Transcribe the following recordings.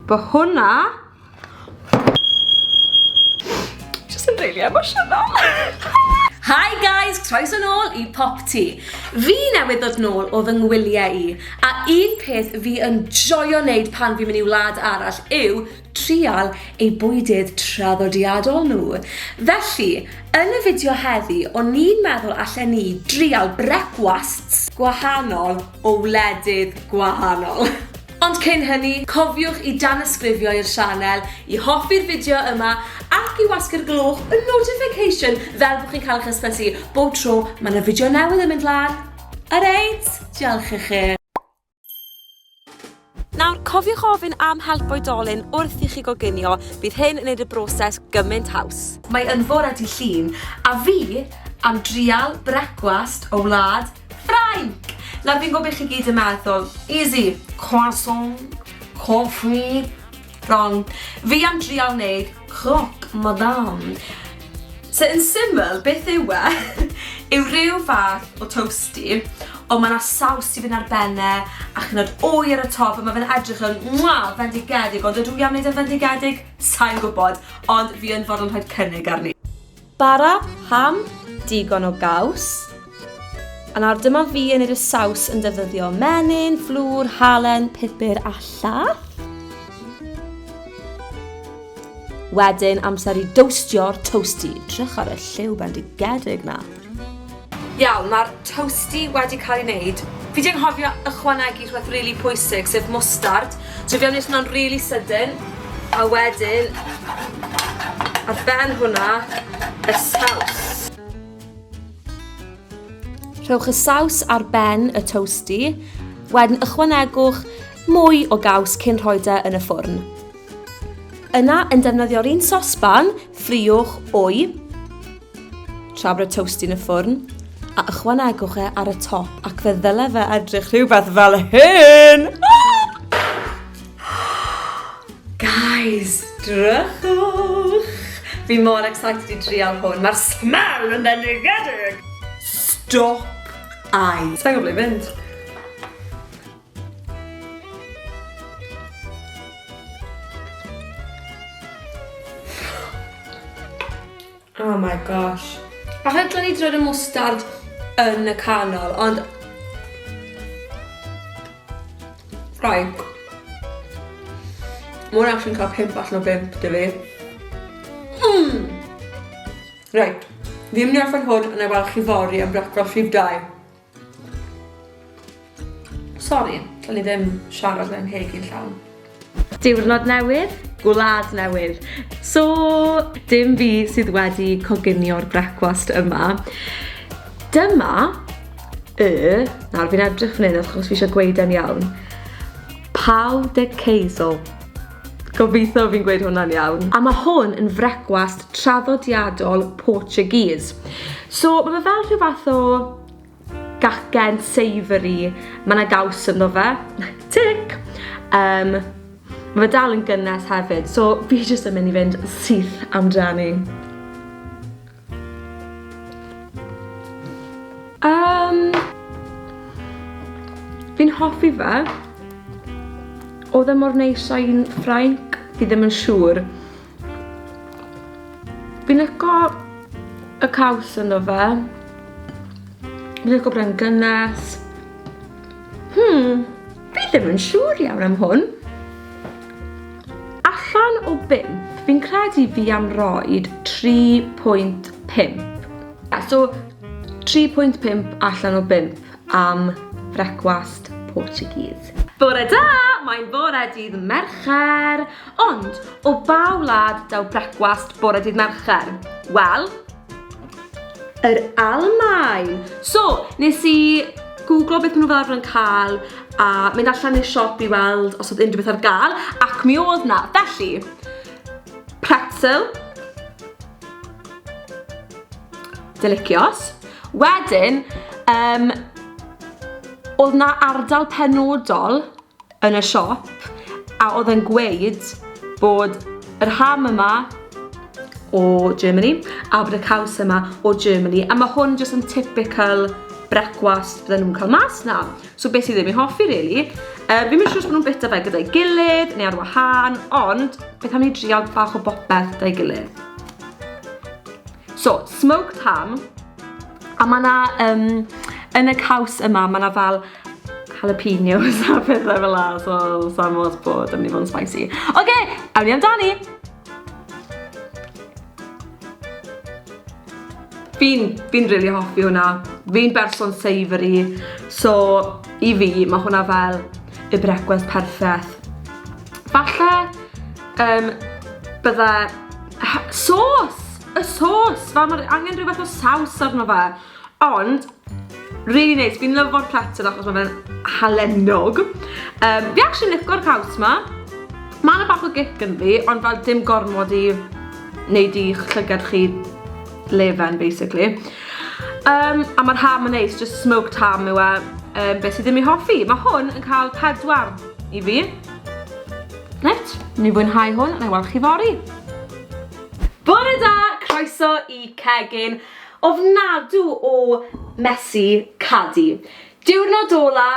Bo hwnna... Just yn really emotional. Hi guys, croes yn ôl i Pop Ti. Fi newydd ddod nôl o fy ngwyliau i, a un peth fi yn joio wneud pan fi'n mynd i wlad arall yw trial ei bwydydd traddodiadol nhw. Felly, yn y fideo heddi, o'n i'n meddwl allan ni drial brecwasts gwahanol o wledydd gwahanol. Ond cyn hynny, cofiwch i danysgrifio i'r sianel, i hoffi'r fideo yma ac i wasgu'r gloch y notification fel bod chi'n cael eich hysbysu bob tro mae 'na fideo newydd yn mynd lan. Alright, diolch i chi. Nawr, cofiwch ofyn am help oedolyn wrth i chi goginio, bydd hyn yn gwneud y broses gymaint haws. Mae yn fore dydd Llun, a fi am drial brecwast o wlad Ffrainc! Nawr fi'n gwybod beth chi gyd yn meddwl, easy, croissant, coffee, Wrong. Fi am drial neud croc madame. So yn syml, beth yw e? yw rhyw fath o toasty, ond mae yna saws i fynd ar benne, ac yn oed wy ar y top, a mae fe'n edrych yn mwa, fendigedig, ond ydw i am wneud yn fendigedig? Sa'n gwybod, ond fi yn fod yn rhaid cynnig arni. Bara, ham, digon o gaws. A nawr dyma fi yn yr y saws yn defnyddio menyn, flwr, halen, pupur a llath. Wedyn amser i dowstio'r toasty. Drych ar y lliw bendigedig na. Iawn, mae'r toasty wedi cael ei wneud. Fi di anghofio ychwanegu rhywbeth really pwysig, sef mwstard. So fi am wneud hwnna'n really sydyn, a wedyn ar ben hwnna y saws. Rhowch y saws ar ben y toasty, wedyn ychwanegwch mwy o gaws cyn rhoi da e yn y ffwrn. Yna, yn defnyddio'r un sosban, ffriwch wy, Tra bod y toast yn y ffwrn, a ychwanegwch e ar y top ac fe ddyle fe edrych rhywbeth fel hyn! Guys, drychwch! Fi mor excited i drial hwn, mae'r smell yn bendigedig! Stop ai! Sa'n gwybod ble fynd. Oh my gosh. Achos dwi'n i drwy'r mwstard yn y canol, ond... Ffraig. Mae'n actually'n cael pimp allan o bimp, dy fi. Mm. Right. Fi'n mynd i orffen hwn yn ei weld chi fori am brecwast rhif 2. Sori, o'n i ddim siarad mewn ceg i'n llawn. Diwrnod newydd, gwlad newydd. So, dim fi sydd wedi coginio'r brecwast yma. Dyma y... Nawr, fi'n edrych fan hyn achos fi eisiau gweud e'n iawn. Pau de Caisel. Gobeithio fi'n gweud hwnna'n iawn. A mae hwn yn frecwast traddodiadol Portuguese. So mae fe fel rhyw fath o gacen savoury, mae yna gaws ynddo fe, tic! Um, mae fe dal yn gynnes hefyd, so fi jyst yn mynd i fynd syth amdani. Um, fi'n hoffi fe. Oedd e mor neis a'i'n ffrainc, fi ddim yn siŵr. Fi'n licio y caws ynddo fe. Fi'n licio bod e'n gynnes. Hmm. Fi ddim yn siŵr iawn am hwn. Allan o 5, fi'n credu fi am roed 3.5. So, 3.5 allan o 5 am frecwast Portuguese. Bore da! Mae'n bore dydd Mercher, ond o ba wlad daw brecwast bore dydd Mercher? Wel, Yr Almaen! So, nes i gwglo beth maen nhw fel arfer yn cael a mynd allan i'r siop i weld os oedd unrhyw beth ar gael ac mi oedd na. Felly, pretzel, delicious. Wedyn, um, oedd na ardal penodol yn y siop a oedd e'n gweud bod yr ham yma o Germany a bod y caws yma o Germany a mae hwn jyst yn typical brecwast bydden nhw'n cael mas na. So beth sydd ddim i'n hoffi, really. Uh, fi'n mynd siŵr bod nhw'n bita fe gyda'i gilydd neu ar wahân, ond beth am ni drial bach o bopeth da'i gilydd? So, smoked ham. A mae yna, um, yn y caws yma, mae yna fel jalapenos a pethau fel la, so sa'n fawr bod yn mynd i fod yn spicy. Oce, okay, awn ni amdani! Fi'n, fi'n rili really hoffi hwnna. Fi'n berson savoury, so i fi, mae hwnna fel y brecwast perffaith. Falle Yym, bydda... Ha, sos! Y sos! Fel mae'r angen rhyw fath o saws arno fe. Ond, really neis. Fi'n lyfo'r platter achos mae fe'n halennog. Um, fi actually licor caws ma. Mae yna bach o gic yn fi, ond fel dim gormod i wneud i'ch llygad chi lefen, basically. Um, a mae'r ham yn neis, just smoked ham yw e, um, beth sydd ddim i hoffi. Mae hwn yn cael pedwar i fi. Reit, ni fwynhau hwn, na i weld chi fori. Bore da, croeso i cegin ofnadw o Mesi Cadi. Diwrnod ola,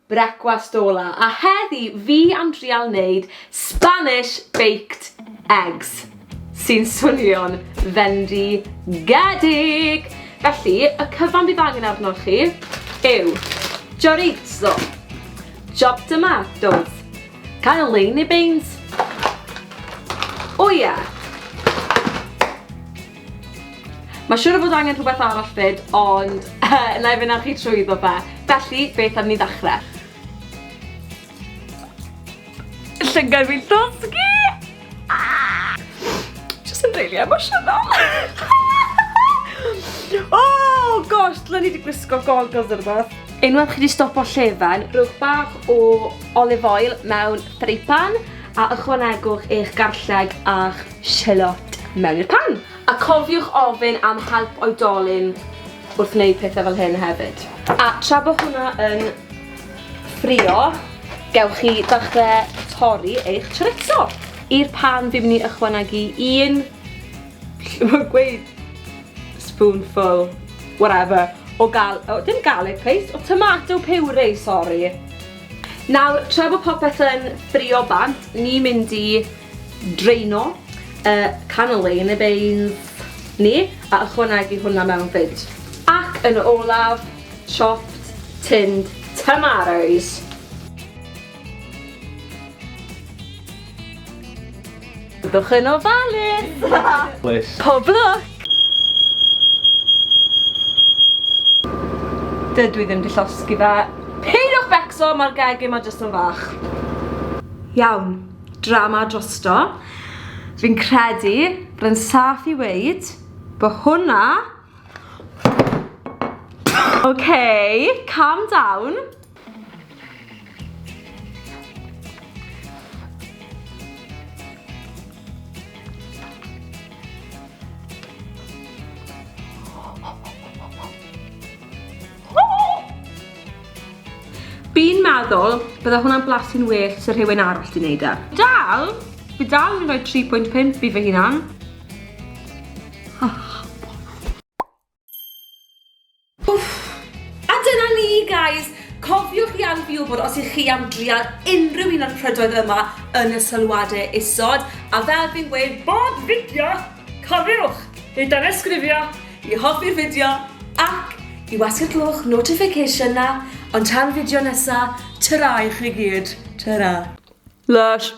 brecwast ola, a heddi fi am drial wneud Spanish baked eggs, sy'n swnio'n fendigedig. Felly, y cyfan bydd angen arnoch chi yw chorizo, chopped tomatoes, Cael lein i beint! O ie! Mae siwr o fod angen rhywbeth arall fyd, ond na i fynd â chi trwy iddo fe. Felly, beth am ni ddechrau? Llygad fi'n llosgi! Jyst yn rili emosiynol. Oh gosh, dylen ni wedi gwisgo goggles neu rhywbeth. Unwaith chi wedi stopo llefen, rhowch bach o olive oil mewn ffreipan a ychwanegwch eich garlleg a'ch sialot mewn i'r pan. A cofiwch ofyn am help oedolyn wrth wneud pethau fel hyn hefyd. A tra bod hwnna yn ffrio, gewch chi ddechrau torri eich chorizo. I'r pan fi'n mynd i ychwanegu un, mae'n gweud spoonful, whatever, o gal, o, dim garlic paste, o tomato puree, sori. Nawr, tra bod popeth yn ffrio bant, ni mynd i draino y cannellini neu beans ni, a ychwanegu hwnna mewn fyd. Ac yn olaf, Chopped tinned tomatoes. Byddwch yn ofalus! Pob lwc! Dydw i ddim di llosgi fe. Peidiwch becso, mae'r gegin ma jyst yn fach. Iawn, drama drosto. Fi'n credu bod yn saff i weud bod hwnna Okay, calm down. Fi'n meddwl bydde hwnna'n blasu'n well sy'n rhywun arall di wneud e. Dal, fi dal yn rhoi 3.5 fi fy hunan. A dyna ni, guys! Cofiwch i anfon wybod os ych chi am drial unrhyw un o'r prydoedd yma yn y sylwadau isod, a fel fi'n gweud bob fideo, cofiwch i danysgrifio, i hoffi'r fideo, ac i wasgu'r clwch notification 'na, ond tan fideo nesa, tara i chi gyd, tara. Lysh.